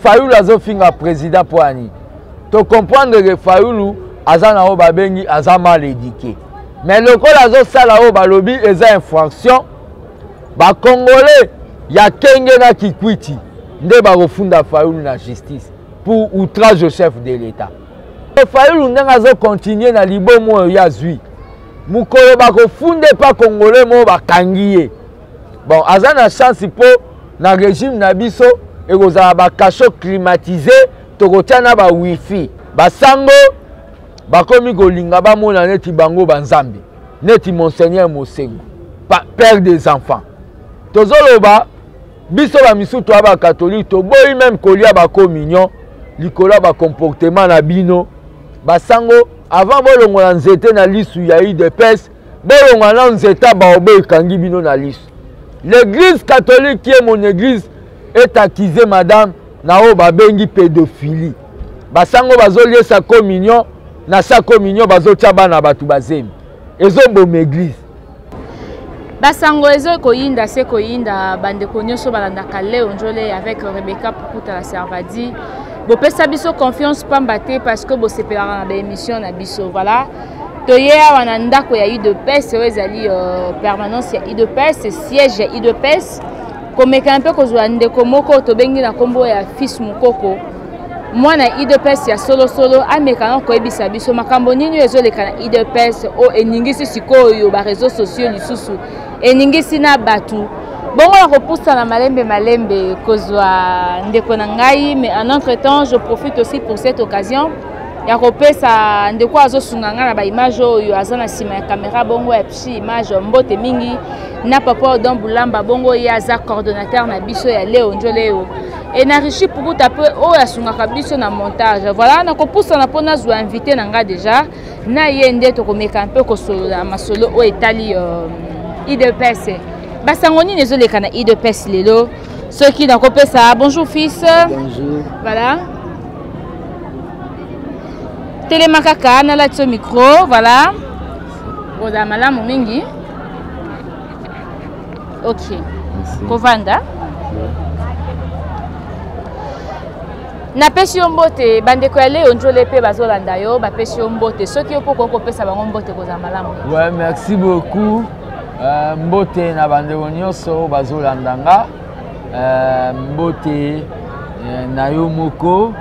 fayulu azofinga président mpo ya nini tocomprendre ke fayulu aza na oyo babengi aza mal édike mais lokola azosala oyo balobi eza infraction bacongolais ya kenge na kikwiti nde bakofunda fayulu na justice pour outrage au chef de l'état fayulu ndenge azokontinue na libomo oyo ye azwi mokolo bakofunda epa congolais moko bakangi ye bon aza na chance mpo na régime na biso ekozala bacachot climatise tokotya na bawifi basango bakomi kolinga bamona neti bango banzambe neti monseigneur mosengo père des enfants tozoloba biso bamisusu toya bakatolike toboyi meme kolia bacommunion likolo ya bacomportement na bino basango avant bolongola nzete na lisu ya udps bolongola nao nzete ya baobo ekangi bino na lisu l'église catholique qui est mon église est accusé madame na oyo babengi pédophilie basango bazoliesa communion na sa communion bazotya bana bato bazemi ezoboma église basango ezo koyinda se koyinda bandeko nyonso balandaka leo njole avec rebecca pukuta la servadi bopesa biso confiance pamba te parce que bosepelaka na baémission na biso voilà toye awa na ndako ya udps oyo ezali euh, permanence ya udps siège ya udps komekana mpe kozwa ndeko moko tobengi na nkombo ya fils mokoko mwana udps ya solosolo ameka na koyebisa biso makambo nini oyo ezoleka na udps oyo eningisi sikoyo bareseau sociaux lisusu eningisi na bato bongo na kopusana malembe malembe kozwa ndeko na ngai mais en entre temps je profite aussi pour cette occasion ya kopesa ndeko azosunga ngai na baimage oyo aza na nsima ya kamera bongo ya psi image mbote mingi na papa odon bulamba bongo ye aza coordonnateur na biso ya leo njo leo enarichi pukuta mpe oyo asungaka biso na montage voilà nakopusana mpo nazwa invité na ngai déjà na ye nde tokomeka mpe kosolola masolo oyo etali euh, idps basango nini ezoleka na idps lelo soki nakopesa bonjour fils bonjour voilà telema kaka nalati yo micro voilà ozala malamu mingi ok kovanda napesi yo mbote bandeko ya leo njole mpe bazolanda yo bapesi yo mbote soki yo mpo okoki kopesa bango mbote kozala malamu ouais, merci beaucoup uh, mbote na bandeko nyonso bazolanda nga uh, mbote uh, na yo moko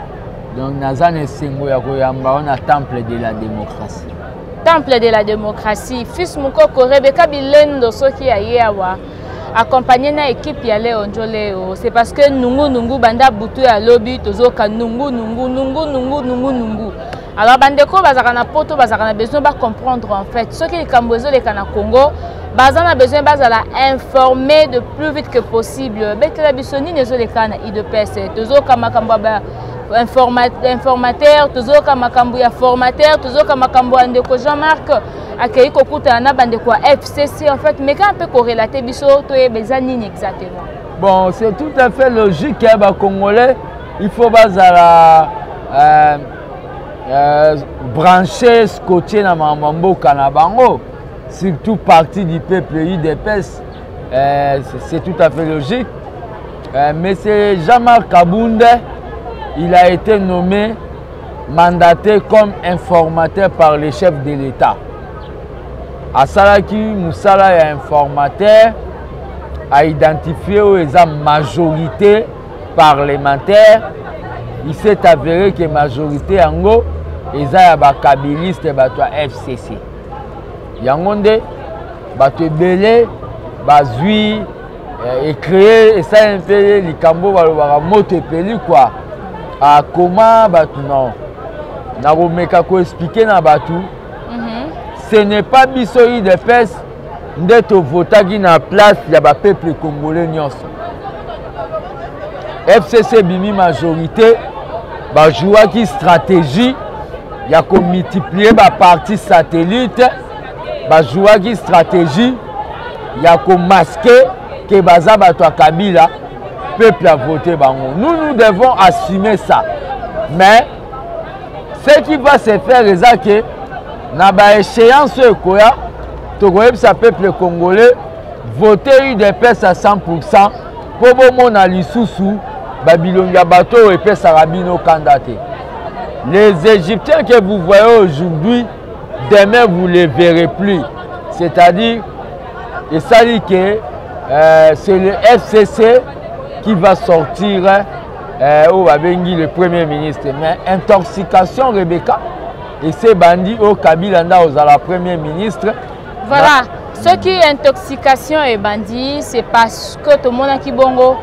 donc naza na esengo ya koyamba yo na temple de la démocratie temple de la démocratie fils mukoko rebeka bilendo soki aye awa accompagné na équipe ya leo njoleo c'est parce que nungu nungu banda butu ya lobi tozoka nungu nungu nungu nungu nungu nungu alors bandeko oyo bazalaka na poto bazalaka na besoin bacomprendre en fait soki likambo ezoleka na congo baza na besoin bazala informé de plus vite que possible betela biso nini ezoleka na idps tozoka makambo ya informateur tozoyoka makambo ya formateur tozoyoka makambo ya ndeko jean marc akei kokutana na bandeko ya fcc en fait meka mpe korelate biso toyeba eza nini exactement bon c'est tout à fait logique ya bacongolais il faut bazala euh, euh, branche scotche na makambo ya mboka na bango surtout parti du peuple udps euh, c'est tout à fait logique Euh, Monsieur Jean-Marc Kabund, il a été nommé mandaté comme informateur par le chef de l'État. asalaki mosala ya informateur aidentifie oyo eza majorité parlementaire il s'est avéré que majorité yango eza ya bakabiliste bato ya fcc yango nde bato ebele bazwi eh, ecree esali mpe likambo balobaka moto epeli kua akoma ah, bato na nakomeka koexplike na bato mhm. ce n'est pas biso udps nde tovotaki na place ya bapeuple congolais nyonso fcc ebimi majorité bajouaki stratégie ya komultiplie baparti satellite bazuwaki stratégie ya komaske ke baza bato ya kabila peuple a voté bango nous nous devons assumer ça mais ce qui va se faire eza ke na baéchéance oyo ekoya tokoyebisa peuple congolais vote udps à 100 pourcent mpo bomona lisusu babilongi ya bato oyo epesaka bino kanda te les égyptiens que vous voyez aujourd'hui demain vous les verrez plus c'est à dire esali ke euh, c'est le fcc qui va sortir euh, oyo babengi le premier ministre mais intoxication rebecca ese bandi oyo kabila nda ozala premier ministre voilà soki intoxication ebandi c'est parce que tomonaki bongo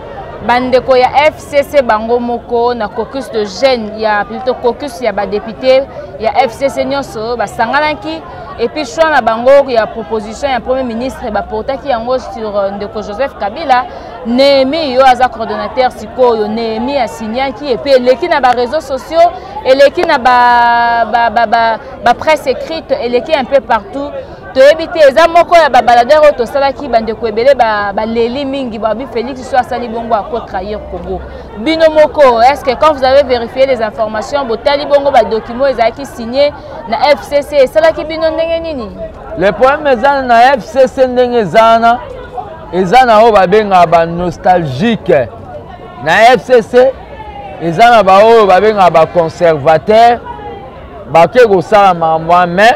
bandeko ya f fcc bango moko na caucus de jeune ya plutôt caucus ya badepute ya fcc nyonso basanganaki epuis choix na bango ya proposition ya premier ministre baportaki yango sur euh, ndeko joseph kabila nehemi yo aza coordonnateur sikoyo nehemi asignaki epuis eleki na bareseau sociaux eleki na bapresse ba, ba, ba, ba écrite eleki un peu partout toyebi te eza moko ya babaladere oyo tosalaki bandeko ebele baleli ba mingi babi félix so asali bongo ako trahir congo bino moko est ce que quand vous avez vérifié les informations botali bongo badocument ezalaki signe na fcc esalaki bino ndenge nini le problème eza na fcc ndenge eza wana eza na oyo babengaka banostalgique na fcc eza na baoyo babengaka baconservateur bake kosala makambo wana mais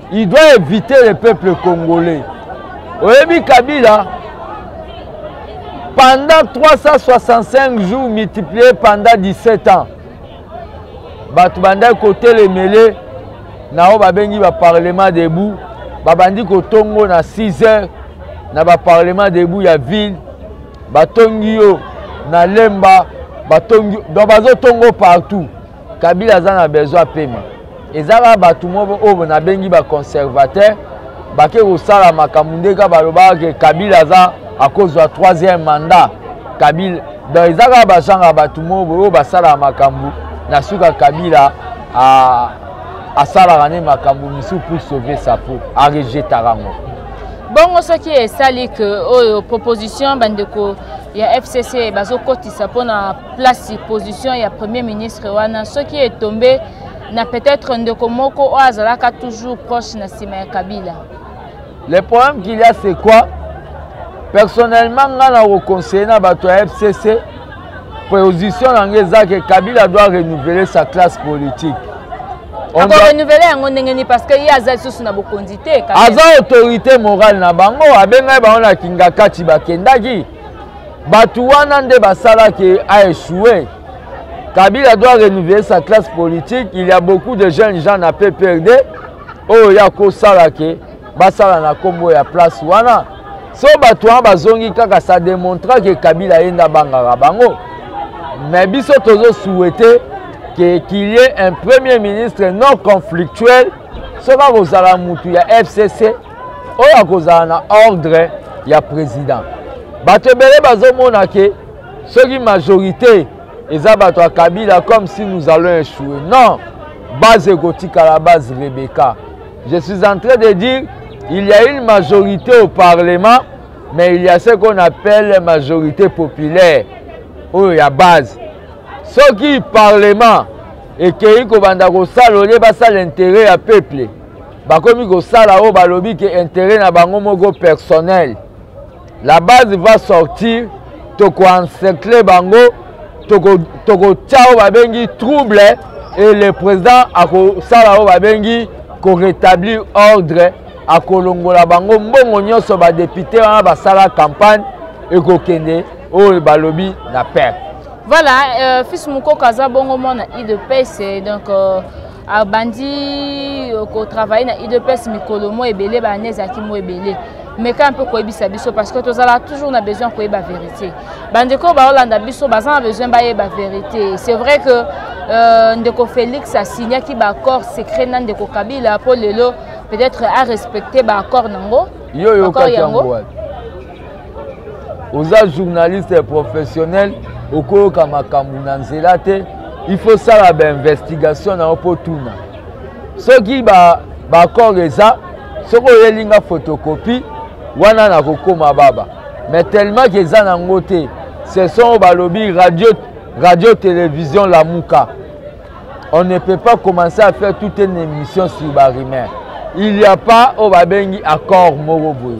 il doit éviter le peuple congolais oyebi kabila pendant 365 jours multiplié pendant 17 ans bato bandaki kotelemele na oyo babengi baparlement debout babandi kotongo na 6 heures na baparlement debout ya ville batongi yo na lemba batongi donc bazotongo partout kabila aza na besoin apema eza kaka bato moko oyo nabengi baconservateur bake kosala makambo nde kaka balobaka ke kabila aza akozwa troisième mandat kabila donc eza kaka bazanga bato moko oyo basalaka makambo na suka kabila asalaka nde makambo misusu pour sauver sa peau arejetaka yango bongo soki esali ke oyo proposition bandeko ya fcc bazokotisa mpo na place position ya premier ministre wana soki etombe na peut-être ndeko moko oyo azalaka toujours proche na nsima ya kabila le problème qu'il y a c'est quoi personnellement ngai na koconseille na bato ya fcc position na ngai eza ke kabila doit renouveler sa classe politique ako renouvele yango ndenge nini parce que ye aza lisusu na bokonzi te aza autorité morale na bango abengaki bango na kingakati bakendaki bato wana nde basalaki aechoue kabila doit renouveler sa classe politique il y a beaucoup de jeunes gens na pprd oyo ya kosala ke basala na kombo ya place wana so bato wana bazongi kaka ça démontra ke kabila ye nde abangaka bango mais biso tozo souhaite ke qu'il y ait un premier ministre non conflictuel soki akozala mutu ya fcc oyo akozala na ordre ya président bato ebele bazomona ke soki majorité eza bato ya kabila comme si nous allons échouer non base ekotikala base rebeka Je suis en train de dire, il y a une majorité au Parlement, mais il y a ce qu'on appelle majorité populaire, oyo ya base. Soki Parlement ekeyi kobanda kosala olie basala intérêt ya peuple, bakomi kosala oyo balobi ke intérêt na bango moko personnel. la base va sortir toko encercle bango toko toko tia oyo babengi trouble et le président akosala oyo babengi ko rétablir ordre akolongola bango mbongo nyonso badepute wana basala campagne ekokende oyo balobi na perte voilà euh, fils mukoko aza bongo mwana idps donc euh... abandi kotravaille na udps mikolo mo ebele baane ezalaki mo ebele meka mpe koyebisa biso parce que tozala toujours na besoin koyeba vérité bandeko baolanda biso baza na besoin bayeba vérité c'est vrai que euh, ndeko félix asignaki baaccord secret na ndeko kabila mpo lelo peut-être arespecte baaccord nango yo oyokaki yango wapi oza journaliste professionnel okoyoka makambo na nzela te il faut sala bainvestigation na yo mpo tuna soki baaccord ba eza soki oyeli nga photocopie wana nakokoma baba mais tellement ke eza nango te ce sont oyo balobi radio, radio télévision lamuka on ne peut pas commencer à faire toute une émission sur barimère il y a pas oyo babengi accord moko boye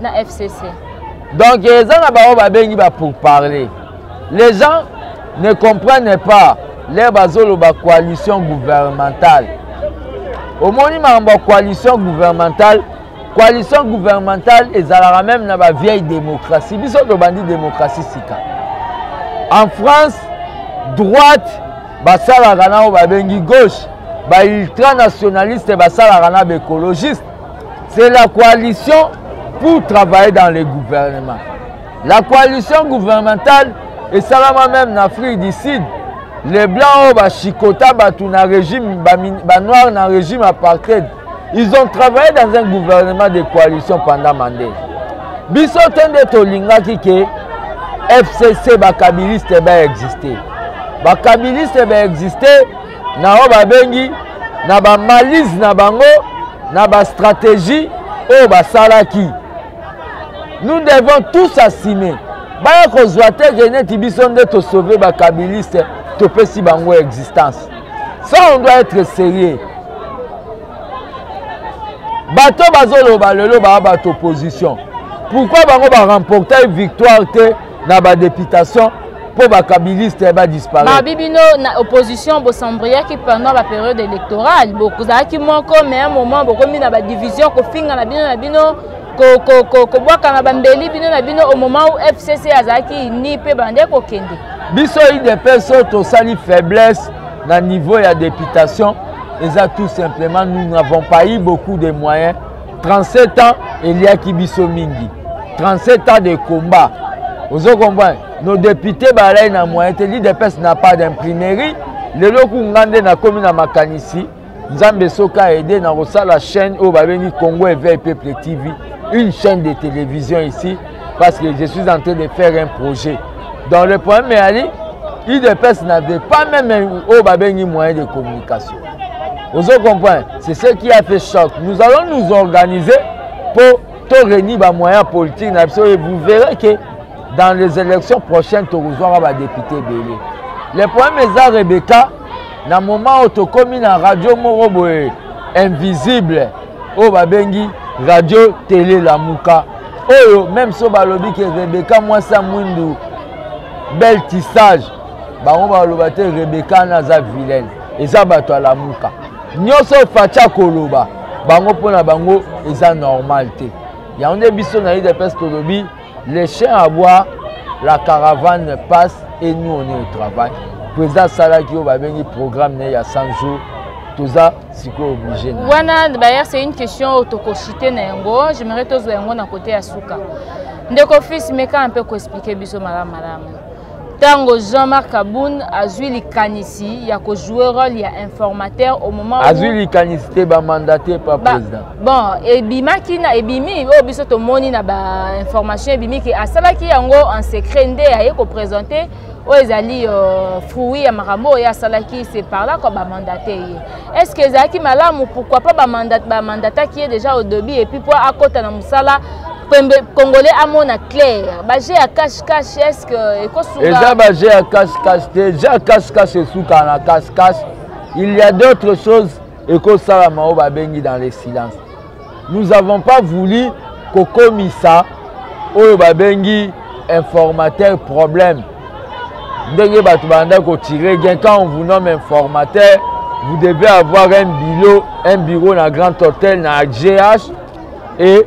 na fcc donc eza na bango babengi ba pour parler les gens ne comprennent pas lere bazoloba coalition gouvernementale omoni makambo ya coalition gouvernementale coalition gouvernementale ezalaka meme na bavieille démocratie biso tobandi démocratie sika en france droite basalaka na oyo babengi gauche baultranationaliste basalaka na baécologiste C'est la coalition pour travailler dans le gouvernement. La coalition gouvernementale esalama même na Afrique du Sud. Les blancs oyo oh, bachikota bato na régime banoir na régime apartheid ils ont travaillé dans un gouvernement de coalition pendant Mandela. Biso te nde tolingaki ke FCC bakabiliste baexiste. Bakabiliste baexiste na oyo babengi na bamalise na bango na bastratégie oyo basalaki nous devons tous assumer baya kozwa te ke neti biso nde tosauve bakabiliste topesi bango existence ça on doit être sérieux bato bazoloba lelo baa bato opposition pourquoi bango baremportai victoire te na ba deputation mpo bakabiliste badisparaitre babi bino na opposition bosembriaki pendant baperiode électorale bozalaki moko mais un moment bokomi na badivision kofinga na bino na bino kobwaka na bambeli bino na bino au moment où fcc azalaki ini mpe bande kokende biso idps oyo tosali faiblesse na niveau ya députation eza tout simplement nous n'avons pas eu beaucoup de moyens 37 ans eliaki biso mingi 37 ans de combat ozo comprendre nos députés balai na moyen te l'idps na pas d'imprimerie lelo ku nga nde nakomi na makanisi nzambe soki aide na kosala chaîne oyo babengi congo eveil peuple tv une chaîne de télévision ici parce que je suis en train de faire un projet donc le problème eyali udps n'avait pas même oyo babengi moyen de communication ozo comprendre c'est ce qui a fait choc nous allons nous organiser mpo to réunir bamoyen politique na biso et vous verrez que dans les élections prochaines tokozwaka badepute ebele le problème eza rebecca na moment oyo tokómi na radio moko boye invisible oyo babengi radio tele lamuka oyo meme so balobi ke rebecca mwasi ya mwindu bel tissage bango baloba te rebecca wana aza vilaine eza bato ya lamuka nyonso faci akoloba bango mpo na bango eza normal te yango nde biso na udps tolobi le chien à bois la caravane passe et nous on est au travail président asalaki oyo babengi programme na ye ya 100 jours toza sikoyo oblige na wana d'ailleurs c'est une question oyo tokosite na yango j'aimerais tozwa yango na kote ya suka ndeko fils meka mpe koexplike biso malamu malamu ntango jean-marc kabund azwi likanisi ya kojoue role ya informateur au moment azwi likanisi te bamandate pa président bon ebimaki na ebimi oyo biso tomoni na bainformation ebimi ke asalaki yango en secret nde aye kopresente oyo ezali euh, fruit ya makambo oyo asalaki se par là kua bamandate ye est ce que ezalaki malamu pourquoi pas bamandataki ye déjà au debut epuis mpo akɔta na mosala congolais amona claire baje ya kashe cash est-ce que ekosunga eza ba jeu ya cash cash te jeu ya cash cash esuka na cash cash il y a d'autres choses ekosalama oyo babengi dans le silence nous avons pas voulu kokomisa oyo babengi informateur problème ndenge bato banda kotire gain quand on vous nomme informateur vous devez avoir un bureau un bureau na grand hôtel na gh et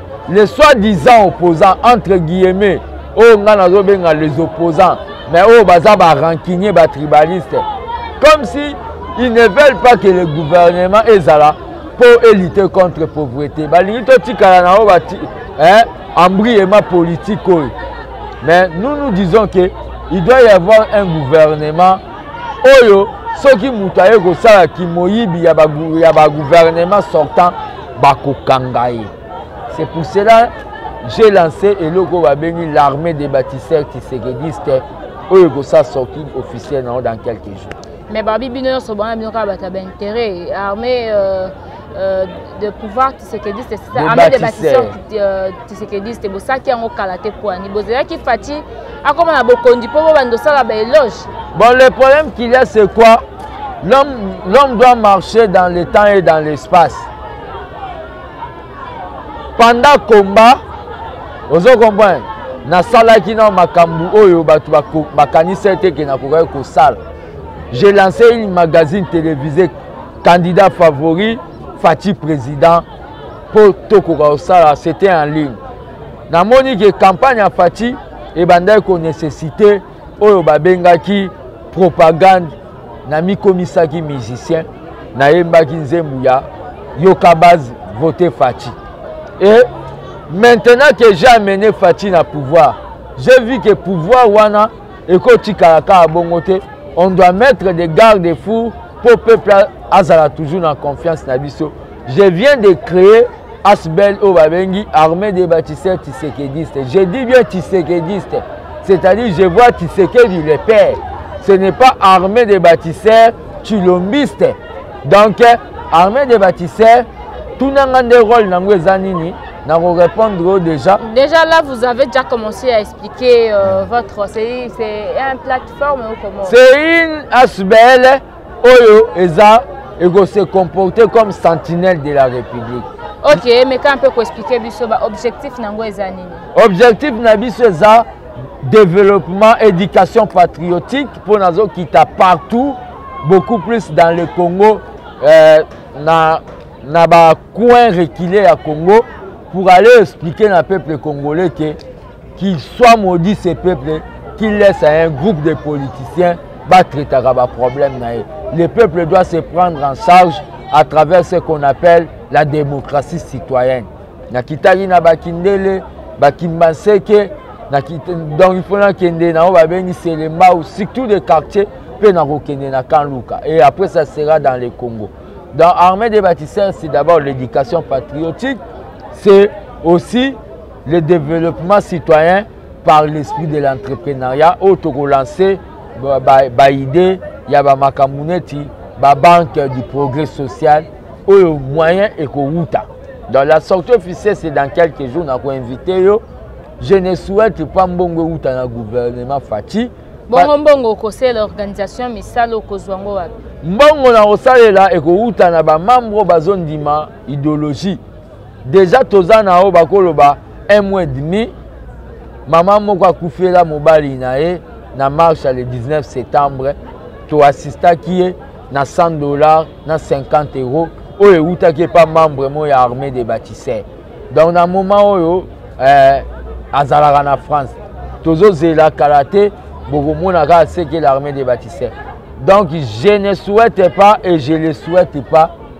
les soit disant opposants entre guillemets oyo ngai nazobenga les opposants mais oyo baza barancunier batribaliste comme si ils ne veulent pas que le gouvernement ezala mpo elite contre pauvreté balingi totikala na oyo bati eh, embriema politique oyo mais nous nous disons que il doit y avoir un gouvernement oyo soki moto aye kosala kimoyibi ya bagouvernement sortant bakokanga ye c'est pour cela j'ai lancé eloko oyo babengi l'armée des bâtisseurs tisekediste oyo ekosala sorti officiel na yango dans quelques jours mais babi bino nyonso bana bino kaka bato ya baintérêt armée euh, euh, de pouvoir tshisekediste c'est ça amede bâtisseur euh, tshisekediste bosaki yango kala te poani bozalaki fati akoma na bokonzi mpo bobanda osala baeloge bon le problème qu'il y a c'est quoi l'homme doit marcher dans le temps et dans l'espace pendant combat ozo comprendre nasalaki na makambo oyo bato bakanisa ete ke nakokaki kosala j'ai lancé une magazine télévisée candidat favori fatshi président mpo tokoka kosala c'était en ligne namoni ke campagne ya fatshi ebandaki konesesite oyo babengaki propagande namikomisaki musicien nayembaki nzembu ya yoka base vote fatshi e maintenant que j'ai amené fatshi na pouvoir j'ai vu que pouvoir wana ekotikala kaka bongo te on doit mettre des garde fous mpo peuple azala toujours na confiance na biso je viens de créer asbel oyo babengi armée des bâtisseurs tisekediste je dis bien tisekediste c'est-à-dire je vois tisekedi le père ce n'est pas armée des bâtisseurs chilombiste donc armée des bâtisseurs tunanga nde role nango eza nini na korépondre déjà déjà là vous avez déjà commencé à expliquer euh, votre c'est un plat c'est une asbl oyo eza eko se comporter comme sentinelle de la république ok meka mpe koexplike biso baobjectif na yango eza nini objectif na biso eza développement éducation patriotique mpo nazokita partout beaucoup plus dans le congo euh, na, na bacoin reculé ya congo pour aller expliquer na peuple congolais ke Qu'il soit maudit ce peuple qui laisse à un groupe de politiciens batraitaka baproblème na ye. Le peuple doit se prendre en charge à travers ce qu'on appelle la démocratie citoyenne. Nakitaki na Bakindele, Bakimbanseke, donc il faut nakende na oyo babengi Selembao, surtout des quartiers, mpe nakokende na Kanluka. Et après ça sera dans le Congo. Dans Armée des bâtisseurs, c'est d'abord l'éducation patriotique, c'est aussi le développement citoyen par l'esprit de l'entrepreneuriat oyo tokolanse baide ya bamakambo neti babanque du progrès social oyo moyen ekowuta dans la sortie officielle c'est dans quelques jours nakoinvite yo je ne souhaite pas mbongo ewuta na gouvernement faci bongo mbongo okosalela organisation misala okozwa yango wapi mbongo na kosalela ekowuta na bamambre bazondima idéologie deja toza na oyo bakoloba un mois et demi mama moko akufela mobali na ye na marche le 19 septembre toassistaki ye na 100 dollars na 50 euros oyo ewutaki epa membre moko ya armée de bâtisseur donc na moment oyo eh, azalaka na france tozozela kala te bokomona kaka seke l'armée de bâtisseur donc je ne souhaite pas et je le souhaite pas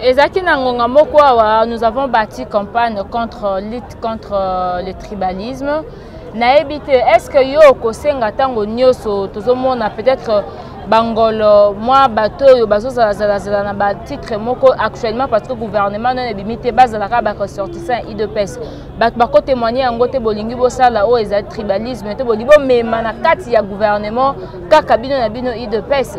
ezalaki na ngonga moko awa nous avons bâti campagne contre lutte contre euh, le tribalisme nayebi te est ce que yo okosenga ntango nyonso tozomona peut-être bangolo mwa bato oyo bazozalazalazala na batitre moko actuellement parce que gouvernement nano ebimi te bazalaka baressortissant idps bato bakotemoigne yango te bolingi bosala oyo ezali tribalisme te bolingi bomema na kati ya gouvernement kaka bino na bino idps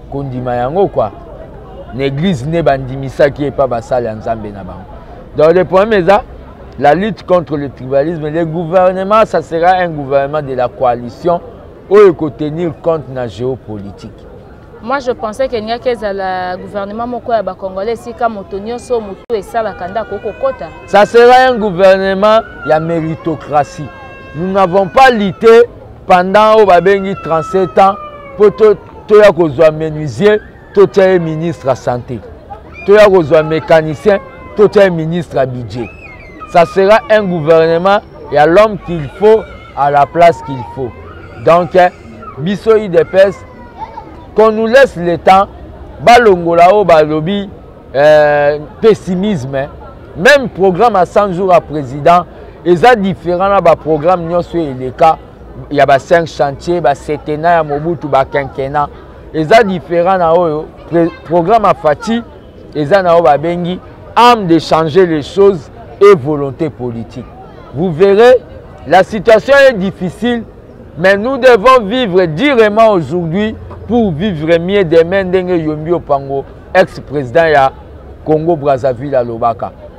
kondima yango kwa na eglise nde bandimisaki epa basali ya nzambe na bango donc le problème eza la lutte contre le tribalisme le gouvernement ça sera un gouvernement de la coalition oyo ekotenir compte na géopolitique moi je pensais que elingaki ezala gouvernement moko ya bacongolais esika moto nyonso motu esalaka nde akoki kokota ça sera un gouvernement ya méritocratie nous n'avons pas lite pendant oyo babengi 37 ans mpo toya kozwa menuisier totya ye ministre ya santé toya kozwa mécanicien totya ye ministre ya budget ça sera un gouvernement ya l'homme qu'il faut à la place qu'il faut donc eh, biso idps qu'on nous laisse le temps balongola oyo balobi euh, pessimisme eh. même programme ya 100 jours ya président eza différent na baprogramme nyonso eleka ya ba 5 chantier ba setena ya mobutu ba quinquena eza différent na oyo programme ya fati eza na oyo babengi ame de changer les choses et volonté politique vous verrez la situation est difficile mais nous devons vivre durement aujourd'hui pour vivre mieux demain ndenge yombi opango ex président ya congo brazzaville alobaka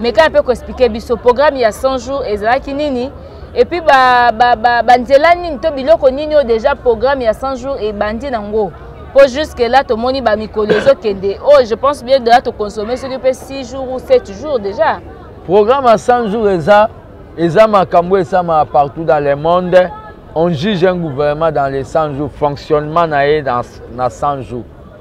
mekana mpe koexplike biso programme ya 100 jours ezalaki nini epuis banzela ba, ba, ba nini to biloko nini oyo déjà programme ya 100 jours ebandi nango mpo jusque là tomoni bamikolo ezokende oyo oh, je pense bien deja toconsomme soki mpe 6 jours ou 7 jours déjà programme ya 100 jours eza eza makambo esamaka partout dans le monde on juge un gouvernement dans les 100 jours fonctionnement na ye na 100 jours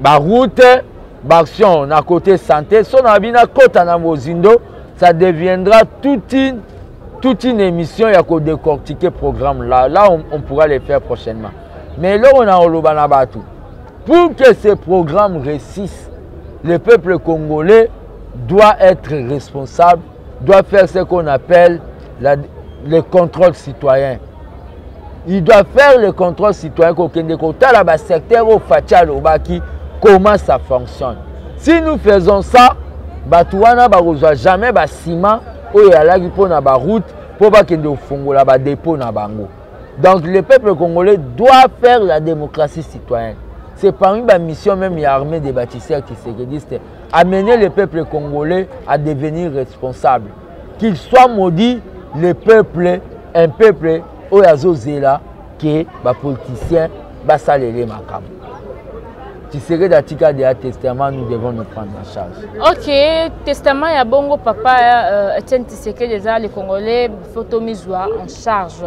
baroute baaction na côté santé so na bino akota na mozindo ça deviendra toute une, toute une émission ya kodecortiquer programme là là on, on pourra les faire prochainement mais eloko na koloba na bato pour que ce programme réussisse le peuple congolais doit être responsable doit faire ce qu'on appelle la, le contrôle citoyen il doit faire le contrôle citoyen kokende kotala basecteur oyo faci alobaki comment ça fonctionne si nous faisons ça bato wana bakozwa jamais basima oyo eyalaki mpo na baroute mpo bakende kofongola badepot na bango donc le peuple congolais doit faire la démocratie citoyenne c'est parmi bamissions même ya armée des bâtisseurs kisekediste amener le peuple congolais à devenir responsable qu'il soit maudit le peuple un peuple oyo azozela ke bapoliticien basalele makambo tshisekedi atikadi ya testament nous devons nous prendre en charge ok testament ya bongo papa euh, etienne tshisekedi eza le congolais fo tomizwa en charge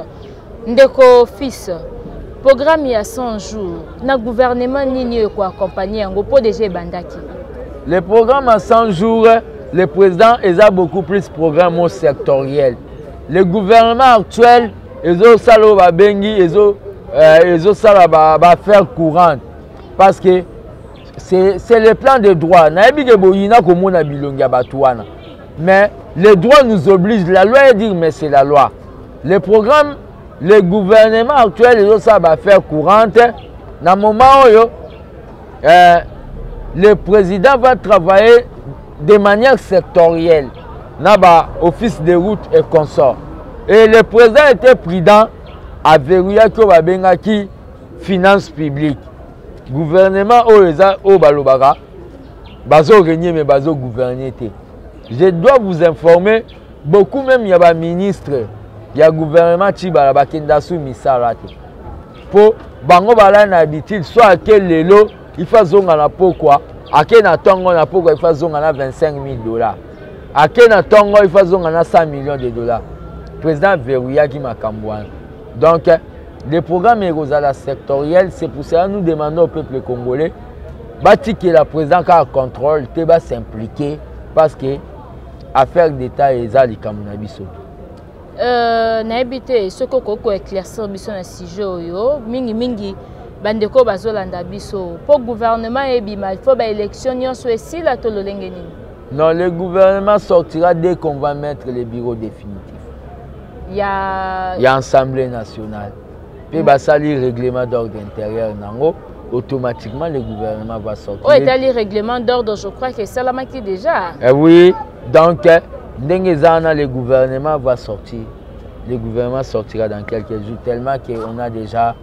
Ndeko fils, programme ya 100 jours na gouvernement nini oyo ekoaccompagne yango mpo deja ebandaki le programme ya 100 jours le président eza beaucoup plus programme o sectoriel le gouvernement actuel ezosala oyo babengi ezosala euh, baaffaire ba courante parce que c'est le plan de droit nayebi ke boyina komona bilongi ya bato wana mais le droit nous oblige la loi est dire mais c'est la loi le programme le gouvernement actuel ezosala baaffaire courante na moment oyo euh, le président va travailler de manière sectorielle na baoffice de route et consort et le président était prudent averouillaki oyo babengaki finance publique gouvernement oyo eza oyo balobaka bazo régner mais bazo gouverner te je dois vous informer beaucoup meme ya ba ministre ya gouvernement tshibala bakenda su misala te mpo bango balai na habitude so ake lelo ifa azonga na pokwa ake na ntongo na pokwa ifa azonga na 25 000 dollars ake na ntongo ifa azonga na 100 millions de dollars président averouyaki makambo wana donc le programme ekozala sectoriel c'est pour cela nous demandons au peuple congolais batikela président kaka contrôle te basimplike parce que affaire d'etat eza likambo na biso euh, nayebi te soki okoki koeclaircir biso na sujet oyo mingimingi bandeko bazolanda biso mpo gouvernement ebima il faut baélection nyonso esila to lolenge nini non le gouvernement sortira dès qu'on va mettre le bureau définitif ya ya assemblée nationale mpe basali règlement d'ordre intérieur nango automatiquement le gouvernement va sortir oyo etali règlement d'ordre je crois que esalamaki déjà eh oui donc ndenge eza wana le gouvernement va sortir le gouvernement sortira dans quelques jours tellement que on a déjà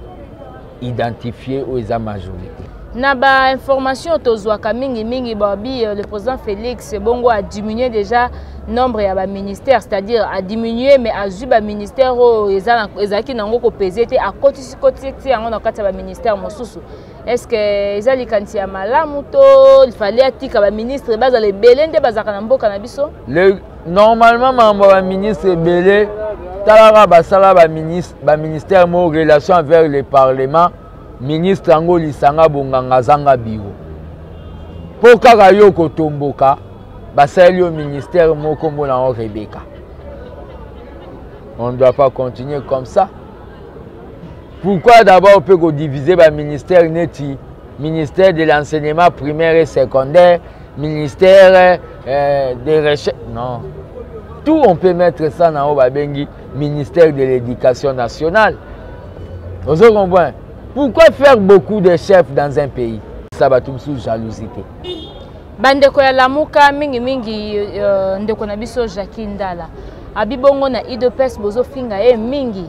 identifié oyo eza majorité na ba information tozwaka mingi mingi babi euh, le président félix bongo a diminué déjà nombre ya baministère c'est-à-dire a diminué mais azwi baministère oyo ezalaki nango kopese te akotisi kotisi ti yango na kati ya baministère mosusu est ce que eza likanisi ya malamu to fallait atika baministre bazala ebele nde bazalaka na mboka na biso normalement mambo ya baministre ebele talaka basala baministère mo relation envers le parlement ministre yango lisanga bonganga azanga biro mpo kaka yo kotomboka basaleli yo ministère moko mbona yango rebeka on ne doit pas continuer comme ça pourquoi d'abord mpe kodivise baministère neti ministère de l'enseignement primaire et secondaire ministère euh, de recherche non tout on peut mettre ça na oyo babengi ministère de l'éducation nationale ozo comprendre pourquoi faire beaucoup de chefs dans un pays sa bato mosusu jalousie te bandeko ya lamuka mingimingi uh, ndeko na biso jacqui ndala abi bongo na idps bozofinga ye mingi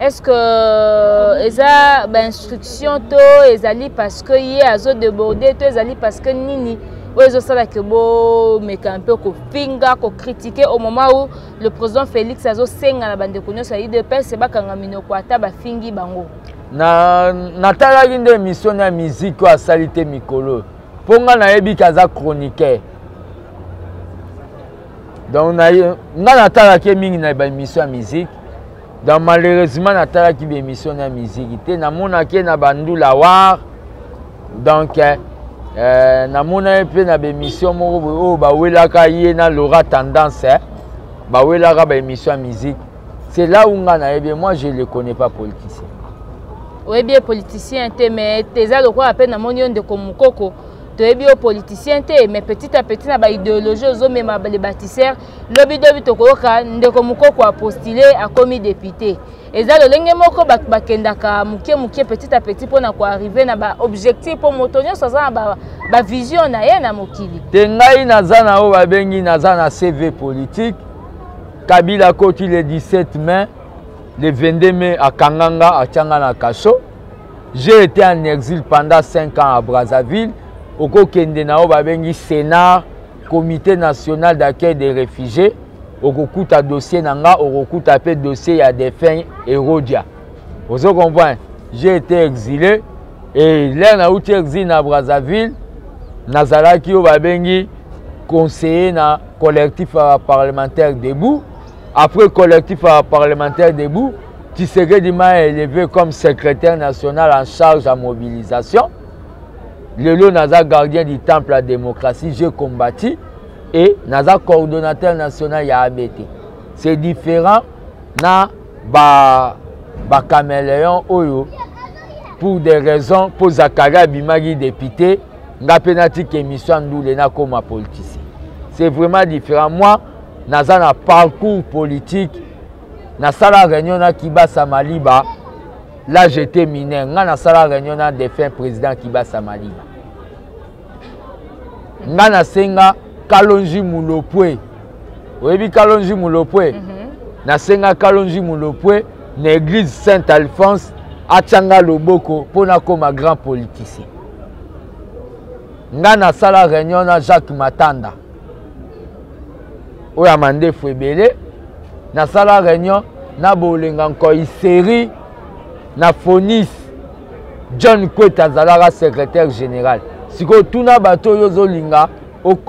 est ce que euh, eza bainstruction to ezali parce que ye azodeborde to ezali parce que nini oyo ezosala ke bomeka mpe kofinga kokritike au moment où le président félix azosenga na bandeko nyonso ya udps bakanga minoko ata bafingi bango natalaki nde émission ya miziki oyo asali te mikolo mpo ngai nayebi ke aza chroniqueur donc ngai natalaki ye mingi na baémission ya miziki donc malheureusement natalaki baémission ya miziki te namonaki ye na bandula war donc eh, eh namona ye mpe na baémission moko boye oyo oh, bawelaka ye na laura tendance eh? bawelaka baémission ya musique c'est là où nga nayebi moi je le connais pas politicien oyebi ye politicien te mais eza lokola mpe namoni yo ndeko mokoko toyebi yo politicien te mais petit à petit na baidéologie ozomema le bâtisseur lobidobi tokoyoka ndeko mokoko apostule akomi député eza lolenge moko bato bakendaka moke moke petit à petit mpo na koarrive na baobjectif mpo moto nyonso aza na bavision ba na ye na mokili te ngai naza na oyo babengi naza na cv politique kabila akoti le 17 mai le 22 mai akanga nga atya nga na kaso j'ai été en exil pendant 5 ans à brazzaville okokende na oyo babengi sénat comité national d'accueil des réfugiés okokuta dossier na nga okokuta mpe dossier ya défunt erodia ozo comprendre j'ai été exilé et lere nauti exile na brazzaville nazalaki oyo babengi conseiller na collectif ya parlementaire debout après collectif ya parlementaire debout tshisekedi m'a élevé comme secrétaire national en charge ya mobilisation lelo naza gardien du temple ya démocratie je combati et naza coordonnateur national ya abt c'est différent na ba bacaméléon oyo pour des raisons mpo zakari abimaki député nga mpe natika émission ya ndule nakoma politicien c'est vraiment différent moi naza na parcours politique nasala réunion na kibasa maliba là j'étais mineur ngai nasala réunion na défunt président kibasa maliba ngai nasenga kalonji mulopwe oyebi kalonji mulopwe mm -hmm. nasenga kalonji mulopwe na église saint alphonse atya ngai loboko mpo nakoma grand politicien ngai nasala réunion na jacques matanda oyo ya mandefu ebele nasala réunion na bolenga nkoi série na fonis john kwete azalaka secrétaire général sikoyo tuna bato oyo ozolinga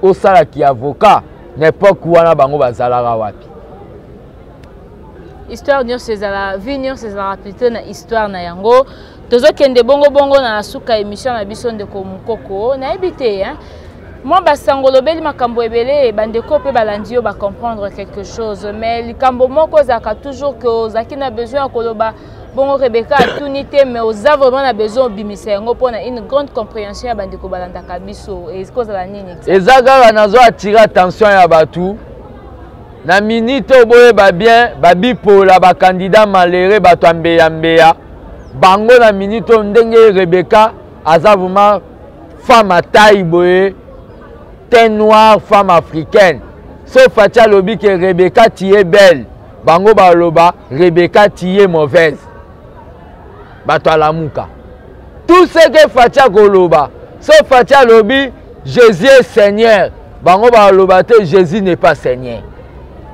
osala ki avocat na epoke wana bango bazalaka wapi histoire nyonso ezala vie nyonso ezalaka plutôt na histoire na yango tozokende bongobongo na suka émission na biso ndeko mokoko nayebi te hein? mwa basango olobeli makambo ebele bandeko mpe balandi yo bacomprendre quelque chose mais likambo moko ezalaka toujours ke ozalaki na besoin ya koloba bongo rebeka atuni te mais oza vraiment na besoin obimisa yango mpo na une grande compréhension ya bandeko balandaka biso ekozala nini eza kaka nazo attire attention ya bato Na minute oyo boyeba bien babipola bakandida malere bato ya mbeyambeya bango na minute oyo ndenge rebeka aza vraimen femme ya tai boye teint noir femme africaine so faci alobi ke rebeka tie belle bango baloba rebeka tie mauvaise bato ya lamuka tout ce que faci akoloba so faci alobi jésus est seigneur bango baloba te jésus n'est pas seigneur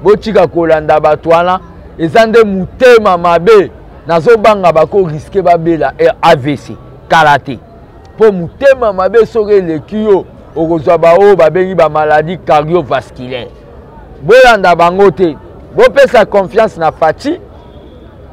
botika kolanda bato wana eza nde motema mabe nazobanga bakoriske babela eh, avc kala te mpo motema mabe soki eleki yo okozwa baoyo babengi bamaladi cardiovasculaire bolanda bango te bopesa confiance na faci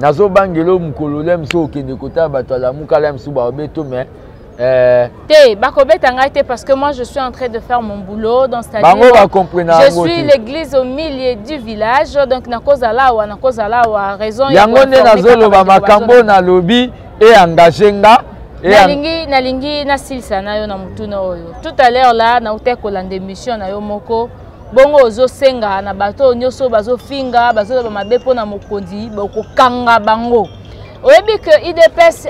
nazobangela oyo mokolo lya mosusu okende kotala bato ya lamuka lya mosusu baobeto mais Euh... te bakobeta ngai te parce que moi je suis en train de faire mon boulot donc bango bacomprena je suis l'église au milieu du village donc nakozala awa nakozala awa raison yango nde nazoloba makambo oyo nalobi eengage nga nalingi nalingi nasilisa na yo na motuna oyo tout à l'heure la nautai kolanda émission na yo moko bongo ozosenga na bato oyo nyonso bazofinga bazoloba mabe mpo na mokonzi bokokanga bango oyebi ke idps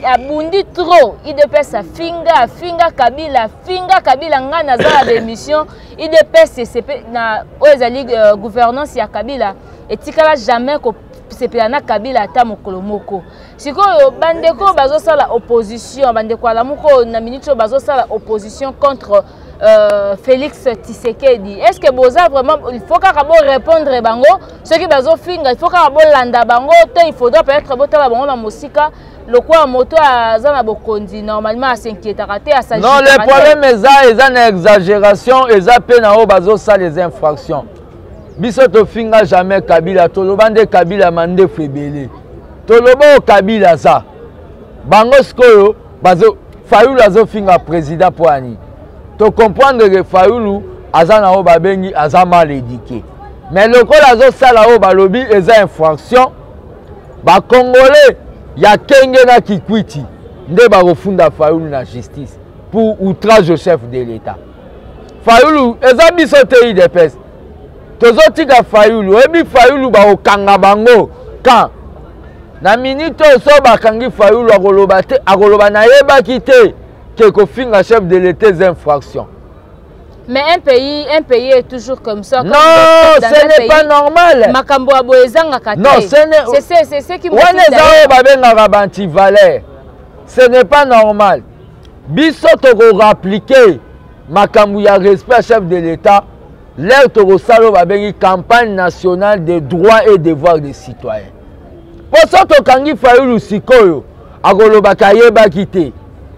abundi trop idps afinga afinga kabila afinga kabila ngai naza na baémission idps na oyo ezali euh, gouvernance ya kabila etikala jamais kosepela na kabila ata mokolo moko sikoyo bandeko bazosala opposition bandeko alamuko na minute oyo bazosala opposition contre Euh, Félix Tshisekedi est-ce que boza vraiment il faut kaka bo répondre bango soki bazo finga il faut kaka bo landa bango to il faudra peut-être bo tala bango na mosika lokola moto aza na bokonzi normalement asinquietaka te non le problème eza eza na exagération eza mpe na oyo bazosala eza infraction biso tofinga jamais kabila toloba nde kabila mandefu ebele toloba oyo kabila aza bango sikoyo bazo fayulu azofinga président mpo ya nini tocomprendre ke fayulu aza na oyo babengi aza mal édike mais lokola azosala oyo balobi eza infraction bacongolais ya kenge na kikwiti nde bakofunda fayulu na justice pour outrage au chef de l'état fayulu eza biso te idps tozotika fayulu oyebi fayulu bakokanga bango kan na minite oyo so bakangi fayulu akoloba te akoloba nayebaki te ke kofinga chef de l'etat eza infraction mais un pays un pays est toujours comme ça comme non ce n'est pas normal makambo ya boye ezangaka te non ce n'est c'est c'est qui wana eza oyo babengaka bantivaleur ce n'est pas normal biso tokorappliquer makambo ya respect ya chef de l'etat lere tokosala oyo babengi campagne nationale de droit et devoir des citoyens mpo so tokangi fayulu sikoyo akolobaka ayebaki te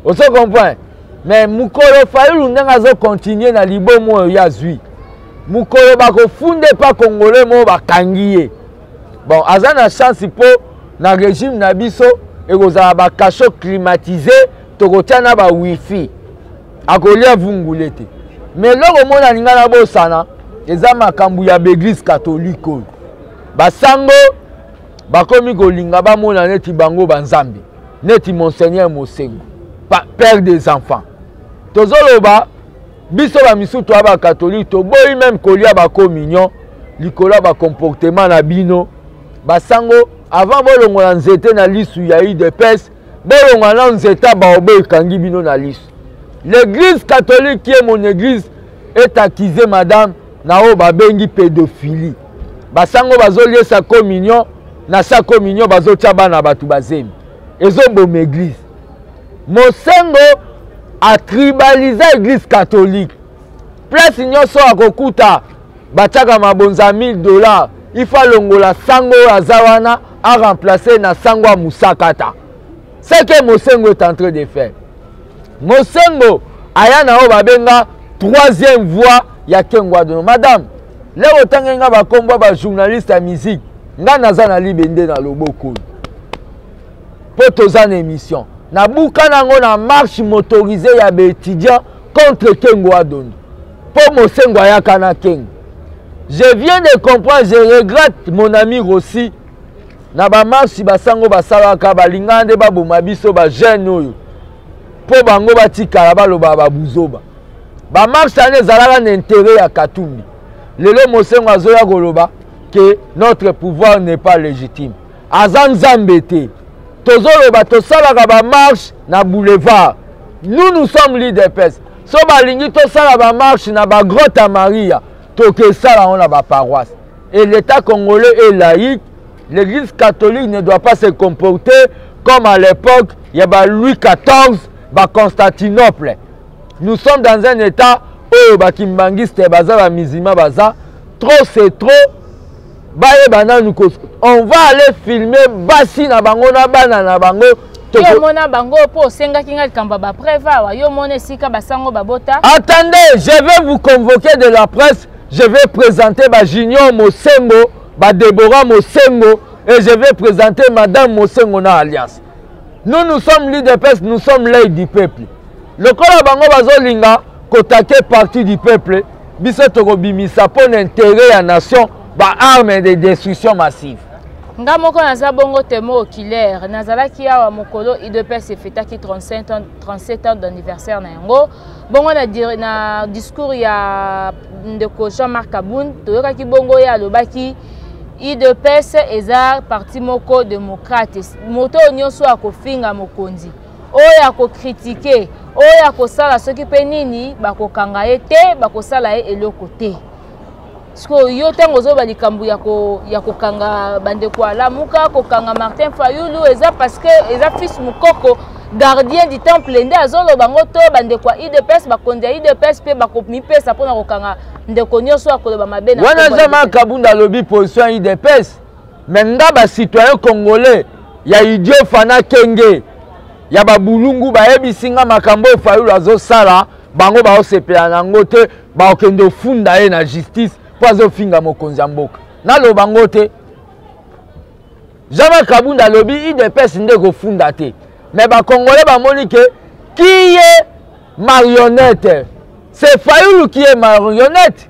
ozo comprendre mais mokolo fayulu ndenge azokontinue na libomo oyo ye azwi mokolo bakofunda epa kongole moko bakangi ye bon aza na chance mpo na régime na biso ekozala bacachot climatise tokotya na ba wifi akolia vungule te me eloko omona alinga na bosana eza makambo ya baeglise katolike oyo basango bakomi kolinga bamona neti bango banzambe neti monseigneur mosengo père des enfants tozoloba biso bamisusu toya bakatolike toboyi meme kolia bacommunion likolo ya bacomportement na bino basango avant bolongola nzete na lisu ya udps bolongola nao nzete ya baobe ekangi bino na lisu l'église catholique ye mon église est accuse madame na oyo babengi pédophilie basango bazoliesa communion na sa communion bazotya bana bato bazemi ezoboma église mosengo atribaliza eglise catholique place nyonso akokuta batiaka mabonza ya 1000 dollars ifo alongola sango oyo aza wana aremplace na sango ya mosakata seke mosengo est en train de faire mosengo aya na oyo babenga troisième voie ya kengwadono madame leo otangi nga bakombo ya bajournaliste ya musique nga naza na libende na loboko oyo mpo toza na émission nabuka nango na marche motorisée ya baétudiant contre kengo adondo mpo mosengo ayaka na kengo je viens de comprendre je regrette mon ami rossi na bamarche basango basalaka balingana nde baboma biso bajeune oyo mpo bango batikala balobaka babuzoba bamarche wana ezalaka na intere ya katumbi lelo mosengo azoya koloba que notre pouvoir n'est pas légitime aza nzambe te tozoloba tosalaka bamarche na boulevard nous nous sommes lidepes so balingi tosala bamarche na bagrotte ya maria tokesala yango na baparoisse et l'état congolais est laïque l'église catholique ne doit pas se comporter comme à l'époque ya ba louis xiv ba constantinople nous sommes dans un état oyo bakimbanguiste baza bamizima baza trop c'est trop bayeba nanu ko on va aller filmer basi na bango na bana na bango yo omona bango mpo osengaki ngai likambo ya bapreve awa yo omona esika basango babota attendez je vais vous convoquer de la presse je vais présenter bajunior mosengo badebora mosengo et je vais présenter madame mosengo na alliance nous nous sommes l'udps nous sommes l'œil du peuple lokola bango bazolinga kotake parti du peuple biso tokobimisa mpo na intérêt ya nation baarme de destruction massive nga moko naza bongo temo okilaire nazalaki awa mokolo idps efetaki 37 ans d'anniversaire na yango bongo na, na discours ya ndeko jean marc abun toyokaki bongo ye alobaki udps eza parti moko démocrate moto oyo nyonso oyo akofinga mokonzi oyo akokritike oyo akosala soki mpe nini bakokanga ye te bakosala ye eloko te sikoyo yo ntango ozoloba likambo ya kokanga bandeko alamuka kokanga martin fayulu eza parce que eza fils mokoko gardien du temple nde azoloba yango to bandeko ya idps bakonzi ya idps mpe bakomipesa mpona kokanga ndeko nyonso akoloba mabe na wana aza makabunda alobi position ya idps me nga bacitoyen congolais ya idiot fana kenge ya babulungu bayebisi nga makambo oyo fayulu azosala bango baosepela na yango te bakokende ofunda ye na justice mpo azofinga mokonzi ya mboka naloba ngo te jean-marc kabunda alobi idps nde kofunda te mais bacongolais bamoni ke kiye marionnette c'est fayulu qui est marionnette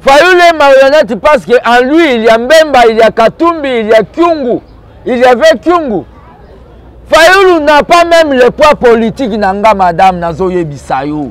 fayulu est marionnette parce que en lui il y a mbemba il y a katumbi il y a kyungu il y avait kyungu fayulu n'a pas même le poids politique na nga madame nazoyebisa yo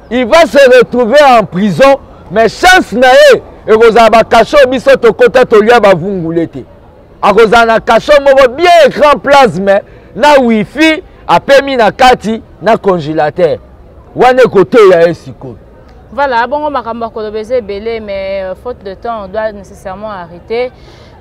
il va se retrouver en prison mais chance na ye ekozala bakasho biso tokota tolia bavungule te akozala na kasho moko bien écran plasme na wifi apemi na kati na congélateur wana ekoteya ye sikoyo voilà bongo makambo ya koloba eza ebele mais euh, faute de temps on doit nécessairement arrêter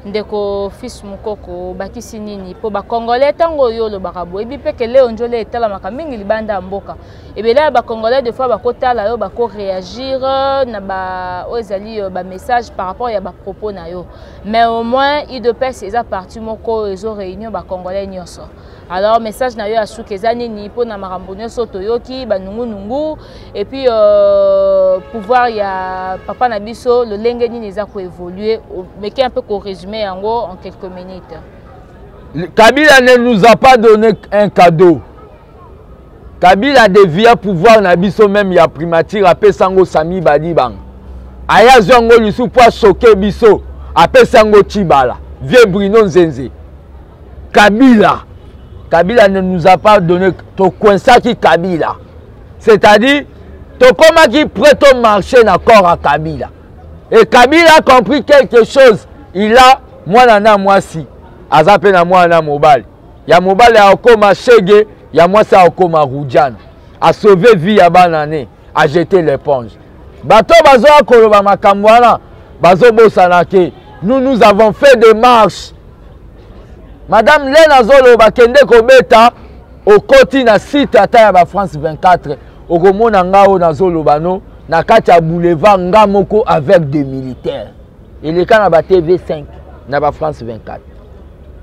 ndeko fils mokoko obakisi nini mpo bacongolais ntango oyo olobaka boyebi mpe ke leo njole etalamaka mingi libanda ya mboka ebele ya bacongolais de fois bakotala yo bakoreagir euh, na ba oyo ezali euh, bamessage par rapport ya bapropos na yo mais au moins idps eza parti moko ezo réunion bacongolais nyonso alors message na yo ya suka eza nini mpo na makambo nyonso toyoki banungunungu epuis euh, pouvoir ya papa na biso lolenge nini eza koévolue meke un peu korésume yango en quelques minutes kabila ne nous a pas donné un cadeau kabila devia pouvoir na biso meme ya primature apesa yango sami badibanga aye azwi yango lisusu mpo asoke biso apesa yango cibala vieux bruno nzenze kabila kabila ne nous a pas donné tokoinsaki kabila c'est-à-dire tokomaki près to marché na corps ya kabila et kabila a compris quelque chose il a mwana na mwasi aza mpe na mwana na mobali ya mobali akokoma shege ya mwasi akokoma rujana asauve vie ya bana ne ajete l'éponge bato bazoya koloba makambo wana bazobosana ke nous nous avons fait des marches madame lene azoloba kende kobeta okoti na site ata ya bafrance 24 okomona nga oyo nazoloba no na kati ya boulevard nga moko avec des militaires eleka na ba tv 5 na bafrance 24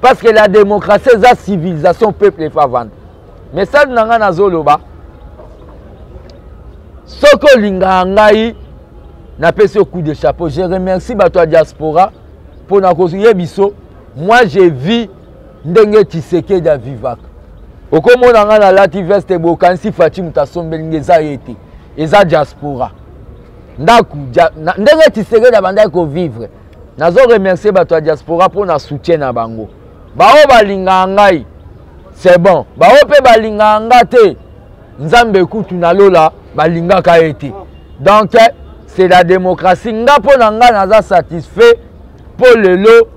parce que la démocratie eza civilisation peuple efa vanda message na ngai nazoloba soki olingaka ngai napesi yo coup de chapeau je remercie bato ya diaspora mpo na koye biso moi je vis ndenge tisekedi avivaka okomona ngai nalati veste bokanisi faci moto asombeli nge eza ye te eza diaspora ndako ndenge tisekedi abandaki kovivre nazo remercier bato ya diaspora mpo na soutien na bango baoyo balingaka ngai c'est bon baoyo mpe balingaka nga te nzambe kutu na lola balingaka ye te donc c'est la démocratie nga mpo na nga naza satisfait mpo lelo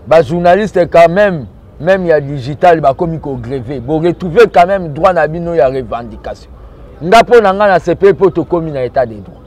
bajournaliste quand même même ya digital bakomi kogreve boretrouve quand même droit na bino ya revendication nga mpo na nga na sepeli mpo tokomi na état de droit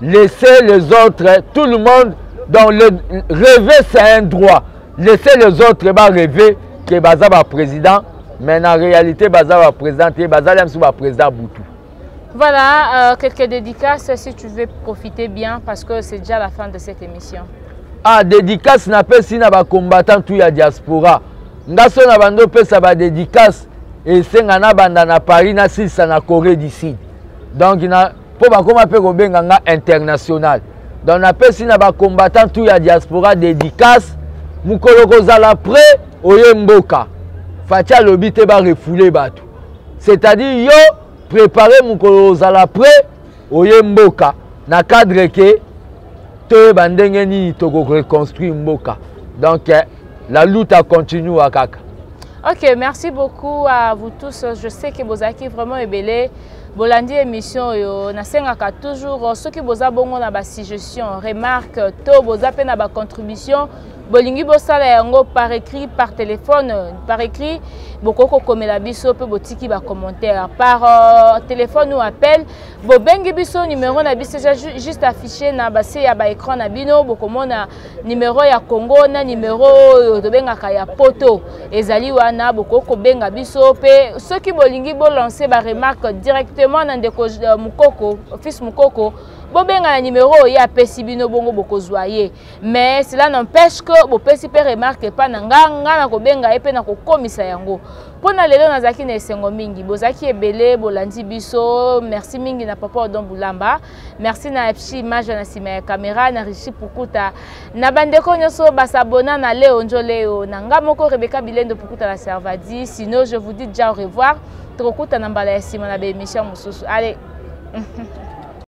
laisser les autres tout le monde donc le, rêver c'est un droit laisser les autres ba rêver que baza ba président mais na réalité baza ba président te bazali biso ba président butu Voilà, euh, quelques dédicaces si tu veux profiter bien parce que c'est déjà la fin de cette émission. Ah, dédicace na pesi na ba combattant tout ya diaspora. Nga so na bando pesa ba dédicace et senga na banda na Paris na sisa na Corée du Sud. Donc na mpo bakoma mpe kobenga nga international donc napesi na bacombattant tout ya diaspora dédicace mokolo kozala près oye mboka faci alobi te barefoule bato c'est-à-dire yo prépare mokolo ozala près oye mboka na cadre ke toyeba ndenge nini tokoreconstruire mboka donc eh, la lutte a continua kaka ok merci beaucoup à vous tous je sais que bozalaki vraiment ebele bolandi émission oyo nasengaka toujours euh, soki boza bongo na basuggestion remarque to boza mpe na bacontribution bolingi bosala yango par écrit par téléphone par écrit bokoki kokomela biso mpe botiki bacommentaire par euh, téléphone ou appel bobengi biso numero na biso eza juste affiche na base ya baécran na bino bokomona numero ya congo na numero oyo tobengaka ya poto ezali wana bokoki kobenga biso mpe soki bolingi bolanse baremarque directement na ndeko euh, mokoko fils mokoko bobenga na numero oyo ye apesi bino bongo bokozwa ye mais cela n'empêche que bopesi mpe remarque epa na nga nga na kobenga ye mpe na kokomisa yango mpo na lelo nazalaki na esengo mingi bozalaki ebele bolandi biso merci mingi na papa odon bulamba merci na epshi image na nsima ya kamera na richi pukuta na bandeko nyonso basabona na leo njoleo na nga moko rebeka bilendo pukuta na servadi sino je vous dis déjà au revoir tokokutana mbala ya nsima na baemission mosusu ale